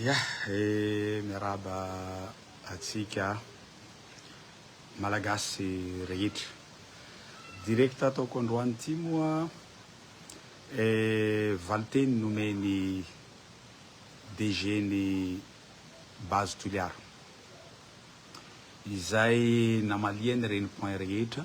Ya eh, miarahaba antsika Malagasy rehetra. Direct ataoko androany ity moa eh, valinteny nomen'ny DG-n'ny Base Toliara, izay namaliany ireny point rehetra,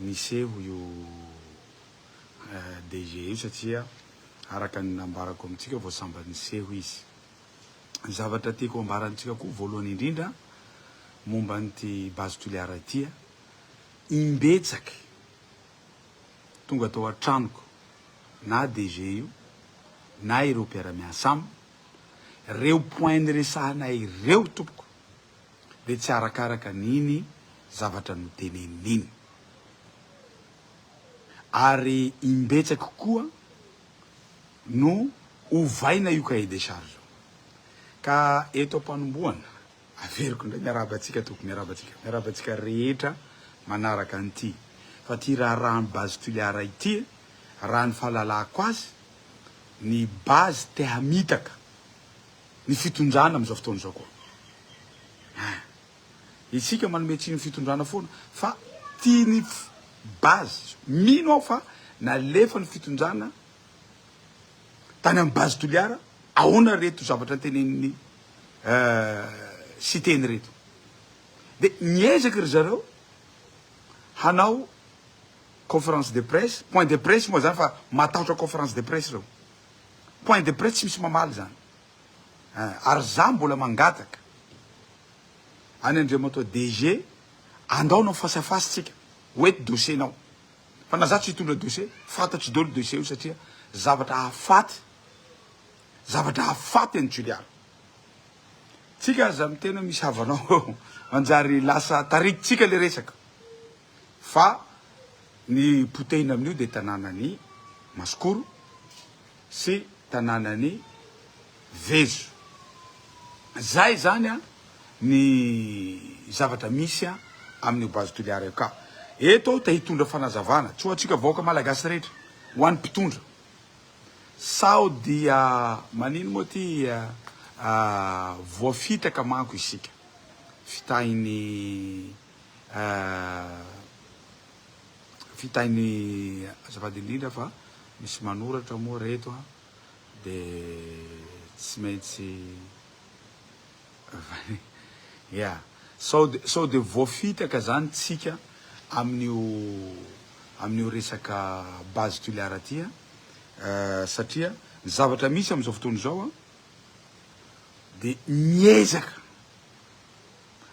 niseho io DG io satria araka ny nambarako amintsika vao sambany niseho izy. Ny zavatra tiako hambara amintsika koa voalohany indrindra momba an'ity Base Toliara ity, imbetsaka tonga tao an-tranoko na DG io na ireo mpiara-miasa aminy, ireo point niresahanay ireo tompoko, ve tsy arakaraka an'iny zavatra noteneniny iny? Ary imbetsaka koa no ovaina io cahier des charges io. Ka eto am-panombohana, averiko indray miarahaba antsika tompoko, miarahaba antsika, miarahaba antsika rehetra manaraka an'ity, fa ity raharaha ny Base Toliara ity, raha ny fahalalako azy, ny Base te hamitaka ny fitondrana amin'izao fotoana izao koa ah! Isika manome tsiny ny fitondrana foana fa tiany base izao. Mino aho fa nalefa ny fitondrana tany amin'ny base Toliara ahoana reto zavatra ntenenin'ny Siteny ireto. Dia miezaka ry zareo hanao conférence de presse, point de presse moa izany fa matahotra conférence de presse ireo. Point de presse tsy misy mamaly zany eh, ary za mbola mangataka any Andriamatoa DG andao anao face à face tsika ho eto dossier nao fa na za tsy hitondra dossier fantatro dolo dossier io satria zavatra hafaty zavatra hafaty any Toliara tsika aza miteny hoe misy havanao eo manjary lasa tarikitsika le resaka fa ny potehina amin'io dia tanànan'i Masikoro sy tanànan'i Vezo. Zay izany an ny zavatra misy an amin'io base Toliara io ka eto aho te hitondra fanazavana tsy ho antsika vahoaka malagasy rehetra, ho an'ny mpitondra sao dia manino moa ty voafitaka manko isika fitahin'ny. Vitainy azafady indrindra fa misy manoratra moa reto a de tsy maintsy ya sao de sao de voafitaka zany tsika amin'io amin'io resaka base tuliara ty a satria ny zavatra misy am'zao fotoana izao a de miezaka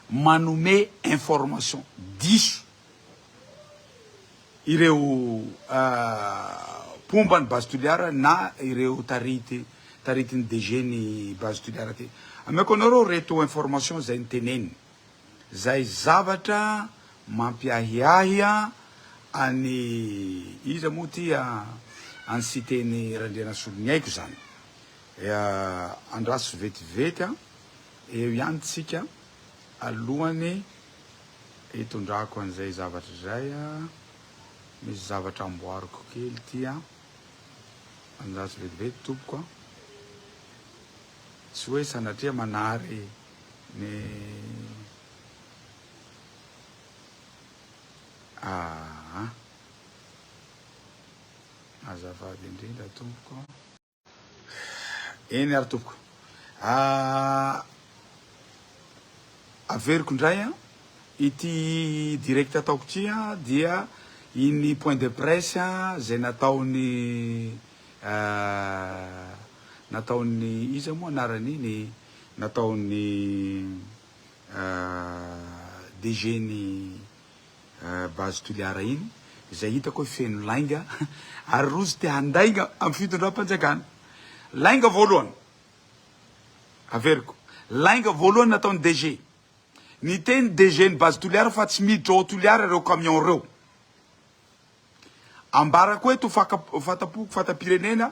manome information diso ireo mpomba ny base Toliara na ireo tarity taritin'ny DG ny base Toliara ty. Ameko anareo reto information izay niteneniny izay zavatra mampiahiahy an'i iza moa ty an'i Siteny Randrianasoloniaiko izany. Andraso vetivety an. Eo ihany tsika alohany hitondrako an'izay zavatra izay a! Misy zavatra amboariko kely ity a! Manjary vetivety tompoko a! Tsy hoe sanatria manary ny aa! Azafady indrindra tompoko. Eny ary tompoko. Averiko indray an, ity direct ataoko ity an dia iny point de presse izay nataon'ny nataon'ny iza moa anarany iny? nataon'ny DG-n'ny. Base Toliara iny izay hitako hoe feno lainga ary rojo te handainga amin'ny fitondram-panjakana. Lainga voalohany, averiko, lainga voalohany nataon'ny DG. Niteny ny DG-n'ny Base Toliara fa tsy miditra ao Toliara ireo camions ireo. Ambarako eto ho fatampoko fatam-pirenena,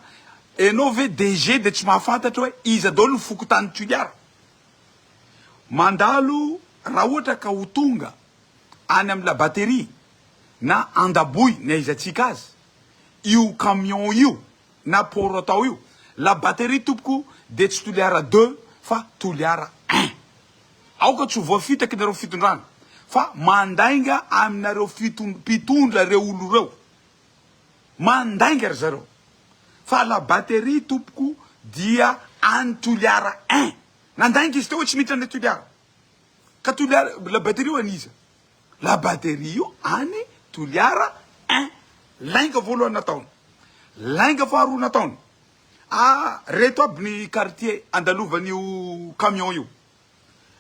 enao ve DG de tsy mahafantatra hoe iza daolo ny fokontany Toliara? Mandalo raha ohatra ka ho tonga any amin'ny Labateria na Andaboy ny aizantsika azy io camion io na port atao io, Labateria tompoko de tsy Toliara deux fa Toliara un. Aoka tsy ho voafitaky nareo fitondrana fa mandainga aminareo fitondra mpitondra reo olo reo mandainga ry zareo fa la batterie tompoko dia any toliara ein nandainga izy teo hoe tsy miditra any toliara ka toliara la batterie io an'iza la batterie io any toliara ein lainga voalohany nataony lainga faharoa nataony Ah reto aby ny quartier andalovan'io camion io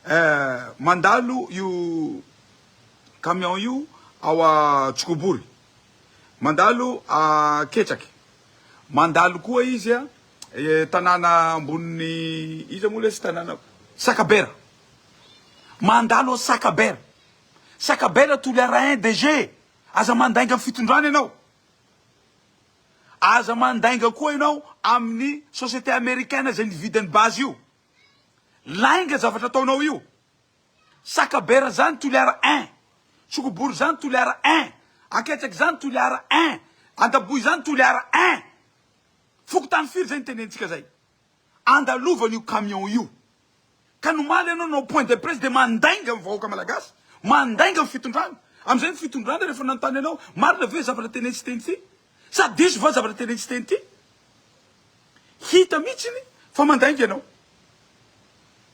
eh, mandalo io camion io ao a Tsikobory, mandalo a Ketraky, mandalo koa izy a tanàna ambonin'ny iza moa lesy tanàna, Sakabera, mandalo ao Sakabera, Sakabera Toliara un DG, aza mandainga fitondrana ianao. Aza mandainga koa ianao amin'ny société américaine izay nividy an'i Base io. Lainga zavatra ataonao io. Sakabera zany Toliara ein. Tsokobory zany Toliara ein. Anketsaky zany Toliara ein. Andaboy zany Toliara ein. Fokontany firy zay ny tenentsika zay. andalovany io camion io ka nomaly ianao nanao point de presse dia mandainga ny vahoaka malagasy, mandainga ny fitondrana, amin'izay ny fitondrana rehefa nanontany anao marina ve zavatra teny sy teny ity sa diso va zavatra teny sy teny ity hita mihitsiny fa mandainga ianao.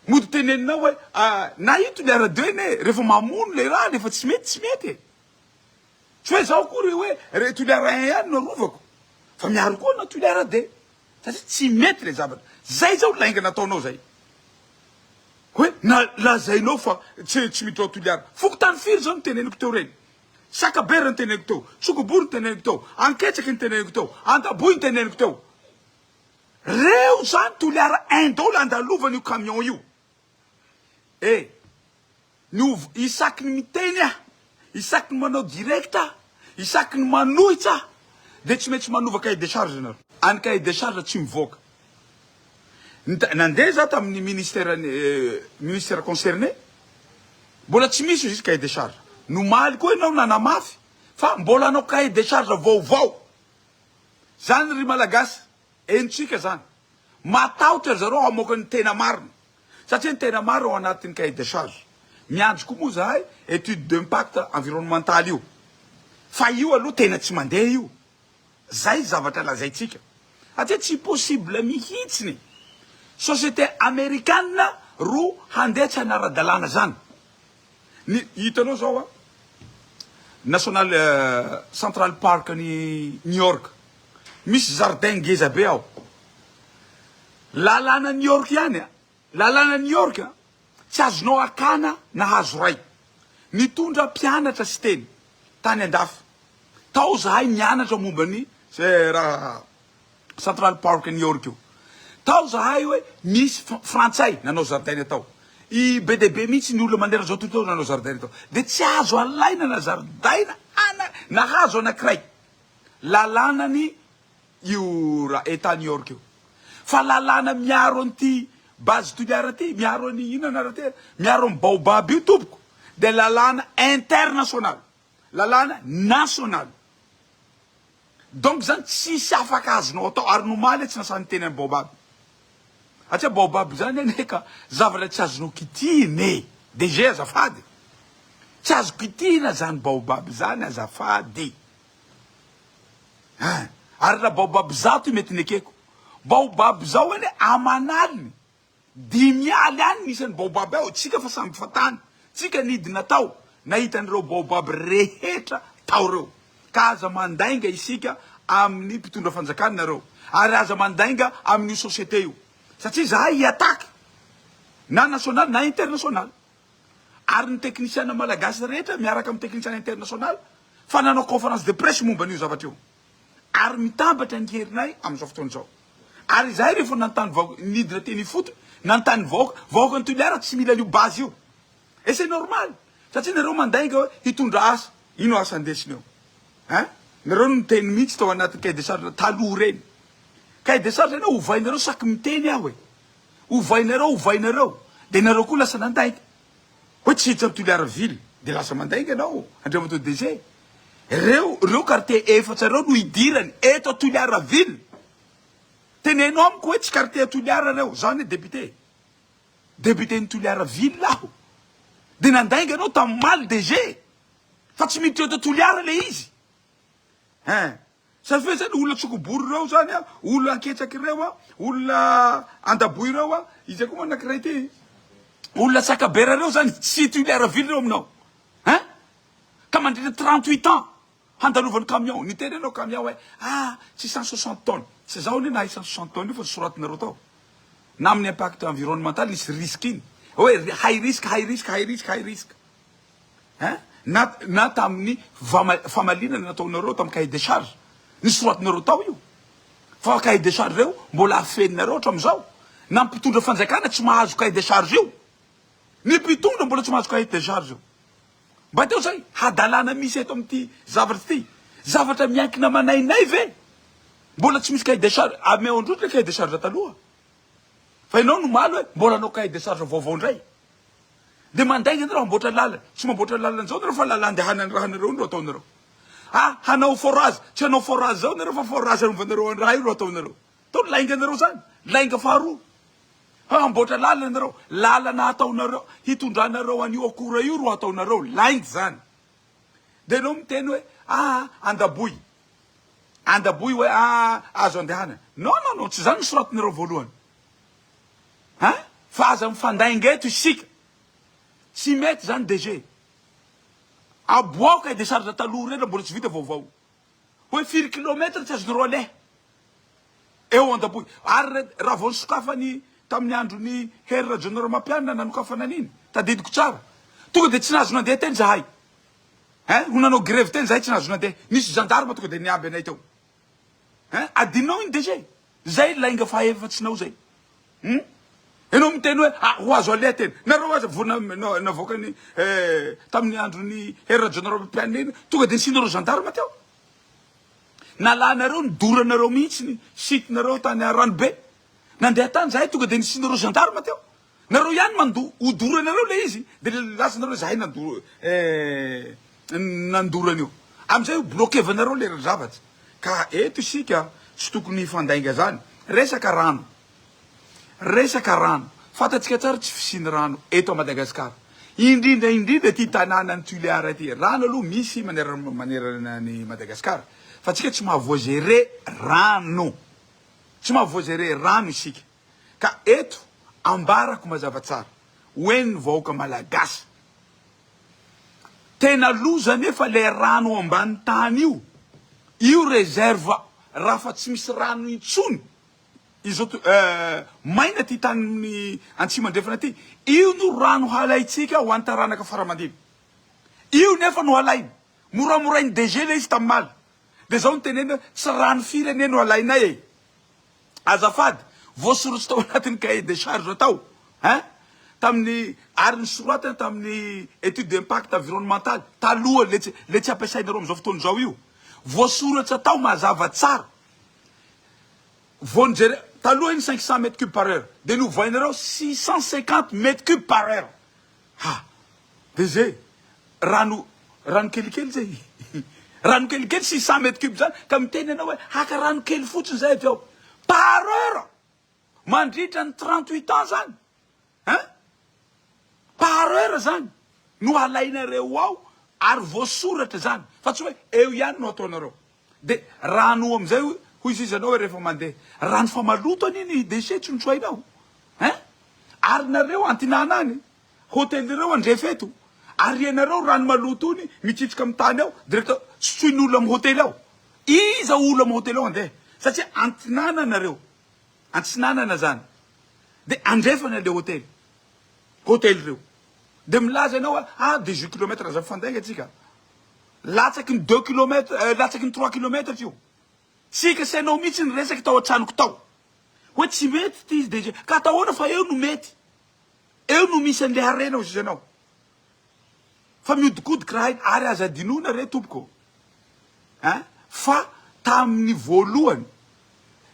Mody teneninao hoe na ito ilay radio anie e, rehefa mamono ilay rà rehefa tsy mety tsy mety e, tsy hoe izaho akory hoe toliara un ihany no arovako fa miaro koa na toliara deux. Satria tsy mety ilay zavatra. Izay izao lainga nataonao izay. Hoe na lazainao fa tsy tsy miditra ao Toliara. Fokontany firy izao no teneniko teo ireny? Sakaber no teneniko teo, Sokobory no teneniko teo, Anketsaky no teneniko teo, Andaboy no teneniko teo. Reo izany Toliara Indo ilay andalovan'io camion io. Eh! Ny ov isaky ny miteny aho, isaky ny manao direct aho, isaky ny manohitra aho dia tsy maintsy manova cahier de charge nareo. Any cahier de charge tsy mivoaka. Nita nandeha za tamin'ny ministère ny ministère concerné, mbola tsy misy izy cahier de charge. Nomaly koa ianao nanamafy fa mbola hanao cahier de charge vaovao. Zany ry Malagasy. Henontsika zany. Matahotra ry zareo hamoaka ny tena marina. Satria ny tena marina ao anatin'ny cahier de charge. Miandry koa moa zahay étude d'impact environnemental io. Fa io aloha tena tsy mandeha io. Zay zavatra lazaintsika. Satria tsy possible mihitsiny société amerikana ro handeha tsy anara-dalàna zany. Ny hitanao zao a, National Central Park any New York, misy jardin ngeza be ao, lalana New York ihany a, lalana New York a, tsy azonao akana na hazo ray, nitondra mpianatra siteny tany andafy tao zahay nianatra momba ny ze raha Central Park New York io. Tao zahay hoe misy frantsay nanao zaridaina tao. I be dia be mihitsy ny olona manerana izao tontolo izao nanao zaridaina tao. Dia tsy azo alaina na zaridaina ana na hazo anankiray. Lalànany io ra Etat New York io. Fa lalàna miaro an'ity base Toliara ity, miaro an'i inona anarany tena, miaro an'i Baobab io tompoko dia lalàna international. Lalàna nasionaly. Donc zany tsisy afaka azonao atao ary nomaly tsy nasahy niteny an'i Baobab. Satria Baobab zany anie ka zavatra tsy azonao kitihina e. DG azafady. Tsy azo kitihina zany Baobab zany azafady. Hein. Ary raha Baobab zato mety nekeko. Baobab zao anie aman'aliny. Dimy aly any ny isan'ny baobab ao, tsika fa samy fatany, tsika nidina tao nahita an'ireo baobab rehetra tao ireo, ka aza mandainga isika amin'ny mpitondra fanjakana nareo, ary aza mandainga amin'io société io, satria izahay hi-attaque na national na international, ary ny teknisiana malagasy rehetra miaraka amin'ny teknisiana international, fa nanao conférence de presse momba an'io zavatra io. ary mitambatra ny herinay amin'izao fotoana izao. Ary izahay rehefa nanontany vahoaka, nidina teny ifotony, nanontany ny vahoaka, vahoakan'i Toliara tsy mila an'io base io. Et c'est normal, satria nareo mandainga hoe hitondra asa, ino asa ndesineo? Hein? Nareo niteny mihitsy tao anatin'ny cahier de charge taloha ireny. Cahier de charge anao ovainareo saky miteny aho e. Ovainareo, ovainareo, dia nareo koa lasa nandainga. Hoe tsy hiditra Toliara ville de lasa mandainga ianao Andriamatoa DG. Reo reo quartier efatra reo no hidirany eto Toliara ville. Teneno amiko hoe tsy quartier Toliara reo, za anie député, député-n'i Toliara ville aho, de nandainga anao tamin'ny omaly DG, fa tsy miditra eto Toliara le izy. Hein. Zany ve zany olona tsokobory ireo zany a, olona anketsaky ireo a, olona andaboy ireo a, izay koa moa anankiray ty, olona sakabera ireo zany tsy toliara vily ireo aminao hein? Ka mandritra trente huit ans handalovan'ny camion, niteny ianao camion hoe ah tsy cent soixante tonnes, tsy zaho anie nahay cent soixante tonnes io fa soratinareo tao na amin'ny impact environnemental nisy risque iny hoe high risk, high risk, high risk, high risk. Na na tamin'ny famalinana nataonareo tamin'ny cahier des charges, ny soratinareo tao io, fa cahier des charges ireo mbola afeninareo hatramin'izao. Na ny mpitondra fanjakana tsy mahazo cahier des charges io. Ny mpitondra mbola tsy mahazo cahier des charges io. Mba teo izay hadalana misy eto amin'ity zavatra ity. Zavatra miankina aman'ainay ve mbola tsy misy cahier des charges? Ameo indroa ilay cahier des charges taloha. Fa ianao no omaly hoe mbola hanao cahier des charges vaovao indray. Dia mandainga anareo hamboatra lalana. Tsy mamboatra lalana izao nareo fa lalan-dehanan'ny rahanareo no ataonareo. Ha hanao forage, tsy hanao forage izao nareo fa forage hanovanareo an'ny raha io no ataonareo. Tao lainganareo izany, lainga faharoa. Ha hamboatra lalana nareo, lalana hataonareo, hitondranareo an'io akora io no ataonareo, lainga izany. Dia enao miteny hoe aa andaboy, andaboy hoe aa azo andehanana. Non non non, tsy izany nosoratinareo voalohany. Hein? Fa aza mifandainga eto isika. Tsy mety zany DG. Aboaka e decharge taloha rehetra mbola tsy vita vaovao. Hoe firy kilometatra tsy azonareo aleha. Eo andapoy. Ary raha vao nisokafany tamin'ny andron'i Hery Rajaonarimampianina nanokafana an'iny, tadidiko tsara. Tonga dia tsy nahazo nandeha teny zahay. Hein? Ho nanao grevy teny zahay tsy nahazo nandeha. Nisy gendarme tonga dia niaby anay teo. Hein? Adinonao iny DG? Zay lainga fahaefatsinao zay. Hum? Enao miteny hoe ah, ho azo aleha tena. Nareo aza vo na, na, navoakany eh, tamin'ny andron'ny Hery Rajaonarimampianina iny, tonga de nisianareo gendarme teo. Nalanareo, nidoranareo mihitsy ny site-nareo tany Aranobe. Nandeha tany zahay tonga de nisianareo gendarme teo. Nareo ihany mandoa, hodoranareo le izy de lazanareo hoe zahay nandora eh nandora an'io. Amizay ho bloquevanareo le zavatra. Ka eto isika tsy tokony hifandainga zany. Resaka rano, resaka rano, fantatsika tsara tsy fisian'ny rano eto à Madagascar. Indrindra indrindra ity tananan'i Tulear ity. Rano aloha misy manerana manerana an'i Madagascar fa tsika tsy maha voigerer rano. Tsy maha voigerer rano isika. Ka eto ambarako mazava tsara ho en'ny vahoaka malagasy. Tena loza anefa le rano ambany tany io. Io reserve raha fa tsy misy rano intsony izao to eh maina ty tanin'ny antsimo andrefana ty. Io no rano halaintsika ho an'ny taranaka fara aman-dimy. Io nefa no halaina. Moramorain'i DG le izy tamin'ny maly. De zao no tenenina hoe tsy rano firy anie no alainay e. Azafady, voasorotso tao anatin'ny cahier de charge tao hein, tamin'ny ary nosoratana tamin'ny étude d'impact environnemental taloha le tsy le tsy ampiasainareo amin'izao fotoana izao io. Voasoratra tao mazava tsara. Vao nijere, taloha iny cinq cents mètres cubes par heure dia novoainareo six cent cinquante mètres cubes par heure. Ha! Dia zay, rano, rano kelikely zay, rano kelikely six cent mètres cubes zany, ka miteny ianao hoe haka rano kely fotsiny zay avy ao, par heure, mandritra ny trente huit ans zany ein! Par heure zany no alainareo ao ary voasoratra zany fa tsy hoe eo ihany no ataonareo. Dia raha anao amin'izay hoy hoy izy ianao hoe rehefa mandeha rano fa maloto anie ny déchets tsy notsoahinao hein ary nareo antinana any hôtel ireo andrefy eto ary ianareo rano maloto iny mitsitsika amin'ny tany ao directeur tsy tsoin'ny olona amin'ny hôtel ao iza olona amin'ny hôtel ao andeha satria antinana nareo antsinanana zany dia andrefany an'ilay hôtel hôtel ireo dia milaza ianao hoe ah dix-huit kilomètres aza mifandainga antsika Latsaky ny deux kilomètre eh, latsaky ny trois kilomètre io. Tsy kasainao mihitsy ny resaka tao an-tranoko tao. Hoe tsy mety ity izy DG. Ka atao ahoana fa eo no mety. Eo no misy an'ilay harena hoy ianao. Fa mihodinkodiko raha aina ary aza adinoina re tompoko eh, fa tamin'ny voalohany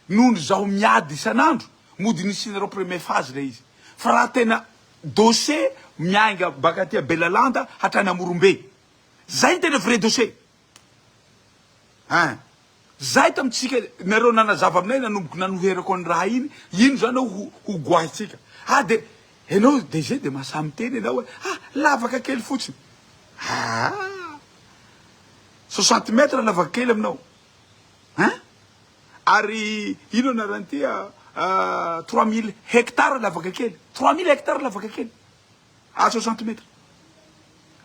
noho ny zaho miady isan'andro mody nisianareo premier phase ilay izy. Fa raha tena dossier miainga baka aty Belalanda hatrany Amorombe. Zay ny tena vrai dossier hein. Zay tamintsika nareo nanazava aminay nanomboka nanoherako an'i raha iny, ino zany ao ho ho goahintsika. Ah de enao DG de mahasahy miteny enao e, ah lavaka kely fotsiny. Haa soixante mètres lavaka kely aminao hein. Ary ino anarany ty ah trois mille hectares lavaka kely, trois mille hectares lavaka kely. Azo centimètre.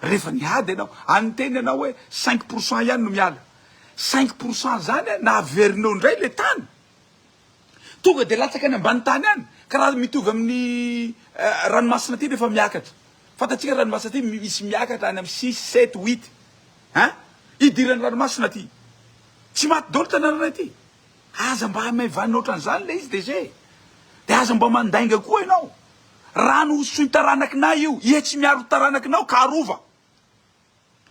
Rehefa niady ianao, any niteny ianao hoe cinq pour cent ihany no miala. Cinq pour cent zany na averinao indray ilay tany, tonga dia latsaka any ambany tany any, ka raha mitovy amin'ny ranomasina aty rehefa miakatra. Fantatsika ranomasina aty misy miakatra any amin'ny six, sept, huit. Ein! Hidiran'ny ranomasina aty. Tsy maty daholo tanananay aty. Aza mba hamaivanina ohatran'izany ilay izy DG e! Dia aza mba mandainga koa ianao! Rano hosoy taranakinay io, ie tsy miaro ny taranakinao ka arova!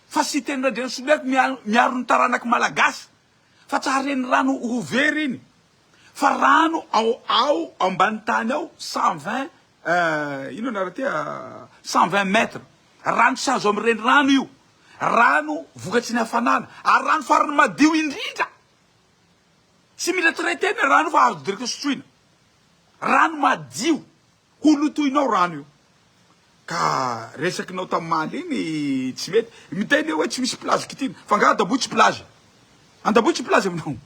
Fa Siteny Randrianasolihaiko miaro ny taranaky Malagasy fa tsy haren'ny rano ho very iny fa rano ao ao ambany tany ao cent vingt inona anarany ity cent vingt mètre rano tsy azo amin'ny renirano io rano vokatry ny hafanana ary rano farany madio indrindra Tsy mila traiter ny rano fa azo direct sotroina. Rano madio. Ho lotoinao rano io. Ka resakinao tamaly iny tsy mety. Miteny hoe tsy misy plage kitihina. Fa nga Andaboy tsy plage? Andaboy tsy plage aminao?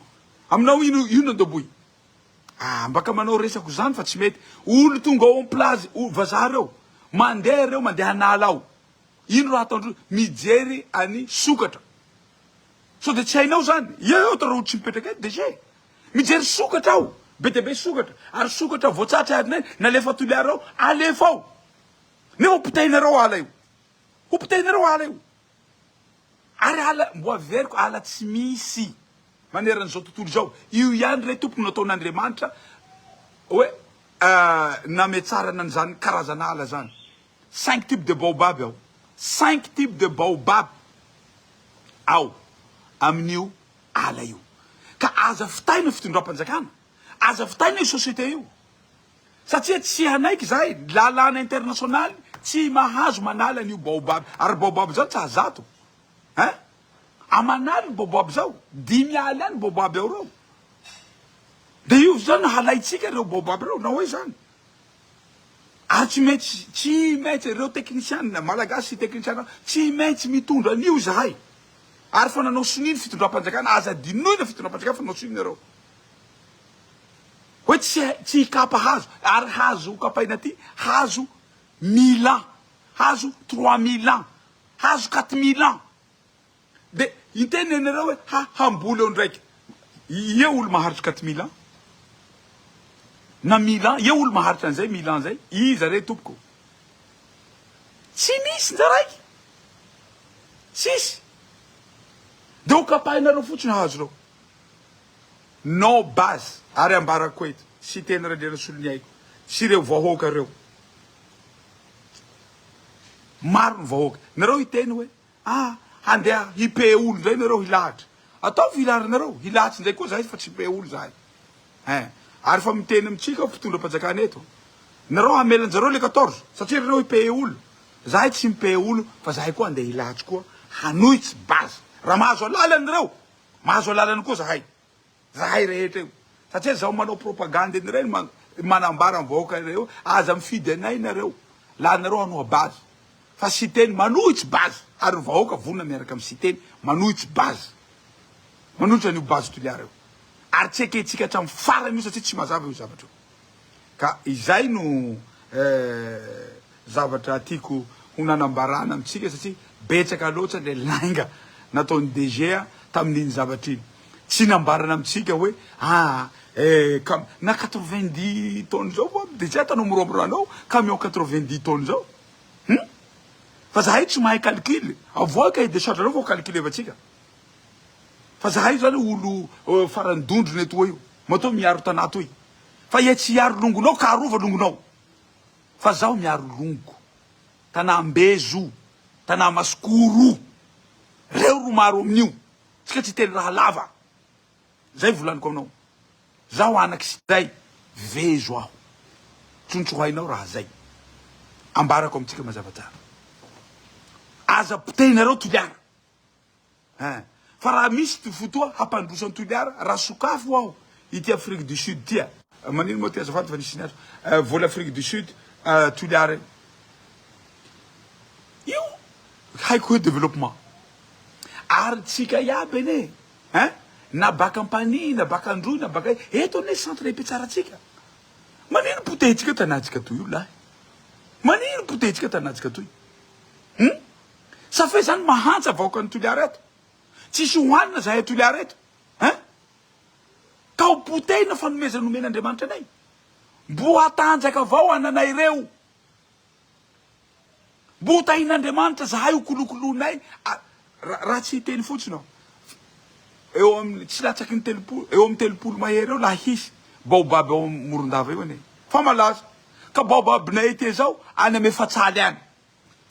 Aminao ino ino Andaboy? Ah mba ka manao resako zany fa tsy mety. Olo tonga ao am plage vazaha reo. Mandeha reo mandeha an'ala ao. Ino raha ataondreo? Mijery an'i sokatra. Sao dia tsy hainao izany? Eo eo tarao tsy mipetraka eto DG. Mijery sokatra aho, be dia be sokatra, ary sokatra voatsatsa ary nay nalefa Toliara ao, alefa ao. Nefa hopitahinareo ala io. Hopitahinareo ala io. Ary ala mbo averiko ala tsy misy manerana izao tontolo izao. Io ihany re Tompoko no nataon'Andriamanitra hoe nametsarana an'izany karazan'ala izany. Cinq types de baobab ao Cinq types de baobab ao amin'io ala io. Ka aza fitaina io fitondram-panjakana, aza fitaina io société io. Satria tsy hanaiky izahay, ny lalàna internasionaly tsy mahazo manala an'io baobab. Ary baobab izao tsy azo zato ein! Aman'ala io baobab izao, dimy ala ihany baobab ao ireo. Dia io izao no halaintsika ireo baobab ireo, na hoy izany. Ary tsy maintsy, tsy maintsy, ireo teknisianina, Malagasy sy teknisianina, tsy maintsy mitondra an'io izahay. Ary fa nanao sonia ny fitondram-panjakana, aza adinoina ny fitondram-panjakana fa nanao sonia nareo. Hoe tsy hay, tsy hikapa hazo, ary hazo hokapaina aty, hazo mille ans, hazo trois mille ans, hazo quatre mille ans. Dia hiteny ianareo hoe ha hamboly eo ndraika ie olo maharitra quatre mille ans na mille ans ie olo maharitra an'izay mille ans zay iza re tompoko tsy misy ndra raiky tsisy de ho kapahinareo fotsiny hahazo reo no base ary ambarako eto sy teny Randrianasolo ny aiko sy reo vahoaka reo maro ny vahoaka nareo hiteny hoe Ah! handeha hi-payer olo indray nareo hilahatra? Ataovy hirarinareo, hilahatsy indray koa zahay fa tsy hi-payer olo zahay eh! Ary efa miteny amintsika mpitondram-panjakana eto, nareo hamela anjareo le quatorze satria rareo hi-payer olo, zahay tsy mi-payer olo fa zahay koa handeha hilahatsy koa hanohitsy base raha mahazo alalana nareo, mahazo alalana koa zahay. Zahay rehetra io. Satria zaho manao propagande an'ireny man, manambara ny vahoaka iray hoe aza mifidy anay nareo, lanareo hanoa base. Fa Siteny manohitsy base, ary ny vahoaka vonona miaraka amin'i Siteny manohitsy base. Manohitra an'io base Toliara io. Ary tsy ekentsika hatramin'ny farany io satria tsy mazava io zavatra io. Ka izay no zavatra tiako ho nanambarana amintsika satria betsaka loatra ilay lainga nataon'ny DG tamin'iny zavatra iny. Tsy nambarana amintsika hoe ah eh na quatre vingt dix tonnes zao moa DG ataonao moramora anao camion quatre vingt dix tonnes zao hum fa zahay tsy mahay calcul avoahy cahier de charge anao vao calculevantsika fa zahay zany olo farany dondrona etoa io. Matoa miaro tanà toy fa iha tsy hiaro longonao ka arova longonao fa zaho miaro longo tanà ambezo tanà masikoro reo ro maro amin'io tsika tsy teny raha lava zay volaniko aminao zaho anaky siday vezo aho tsontsohainao raha zay ambarako amintsika mazava tsara aza potehinareo toliara. Hein. Fa raha misy ity fotoa hampandroso an'i Toliara raha sokafy ho aho ity Afrique du Sud ity a. Manino moa ty azafady fa nisy niantso eh, vola Afrique du Sud eh, Toliara io. Io haiko hoe développement. Ary tsika iaby anie hein, na baka Ampanihy, na baka Androy, na baka aiza, eto anie centre ipetsarantsika. Manino potehintsika tanantsika toy io lahy? Manino potehintsika tanantsika toy? Hum? Sa ve zany mahantsa vahoakan'i Toliara eto? Tsisy hohanina zahay Toliara eto hein? Ka ho potehina fanomezana omen' Andriamanitra anay? Mbo hatanjaka avao ananay reo. Mbo ho tahin'Andriamanitra zahay ho kolokoloinay a ra raha tsy hiteny fotsiny aho. Eo amin'ny tsy latsaky ny telopolo eo amin'ny telopolo mahery eo laha hisy baobab ao Morondava eo anie fa malaza. Ka baobab-nay ety ezao any am' efatsaly any.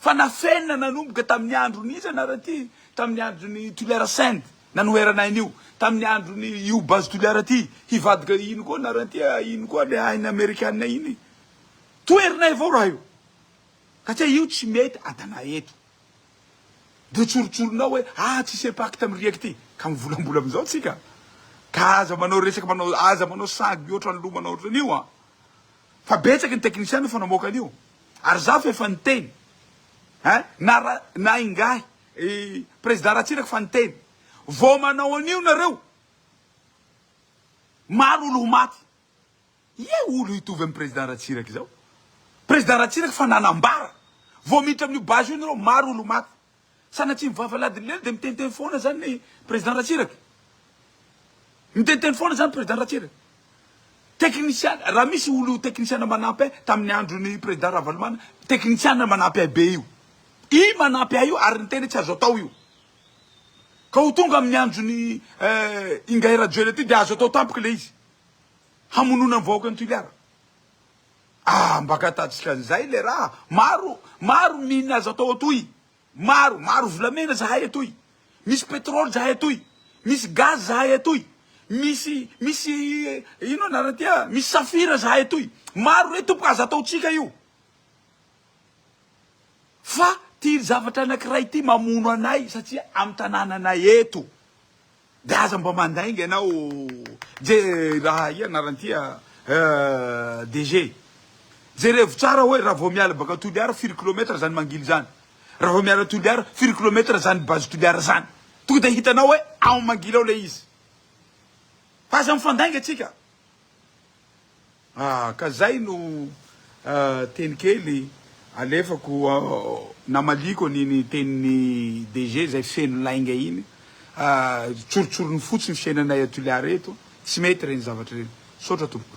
Fa nafenina nanomboka tamin'ny andron'iza nareo ity? Tamin'ny andron'i Tulliara Send nanoherana aina io, tamin'ny andron'i io Base Tulliara ity, hivadika iny koa nareo ity a, iny koa le aina amerikana iny. Toherinay avao raha io. Ka tsy hay io tsy mety adana eto. Dia tsorotsoronao hoe ah tsisy impact amin'ny riaka ity. Ka mivolambola amin'izao tsika. Ka aza manao resaka manao aza manao sagy mihoatra ny loha manao ohatran'io an. Fa betsaka ny technician efa namoaka an'io ary za fa efa niteny eh na ra na ingahy i prezida Ratsiraka fa niteny vao manao an'io nareo maro olo ho maty ye olo hitovy am prezida Ratsiraka izao prezida Ratsiraka fa nanambara vao miditra amin'io base io nareo maro olo ho maty Sanatria mivava ladilelo dia miteniteny foana zany ny président Ratsiraka. Miteniteny foana zany président Ratsiraka. Teknisiana, raha misy olo teknisiana manampy ahy tamin'ny andron'ny président Ravalomana, teknisiana manampy ahy be io. I manampy ahy io ary niteny hoe tsy azo atao io. Ka ho tonga amin'ny andron'i Ingahy Rajoelina ity dia azo atao tampoka ilay izy. Hamonoana ny vahoaka an'i Toliara. Ah mba katatsika an'izay le raha, maro maro mine azo atao atoy, maro maro volamena zahay atoy, misy petrole zahay atoy, misy gaz zahay atoy, misy misy ino anarany ty ah, misy safira zahay atoy, maro re tompoko aza ataontsika io, fa ty zavatra anakiray ty mamono anay satria amin'ny tanananay eto. De aza mba mandainga ianao je raha ia anaranyty a DG jerevo tsara oe raha vao miala baka Toliara firy kilometra zany mangily zany raha vao miala Toliara firy kilometra zany base Toliara zany tonga de hitanao oe ao mangily ao le izy fa aza mifandainga tsika. Ah ka zay no teny kely alefako namaliako an'iny tenin'i DG zay feno lainga iny ah tsorotsorony fotsiny fiainanay à Toliara eto tsy mety reny zavatra reny misaotra tompoko.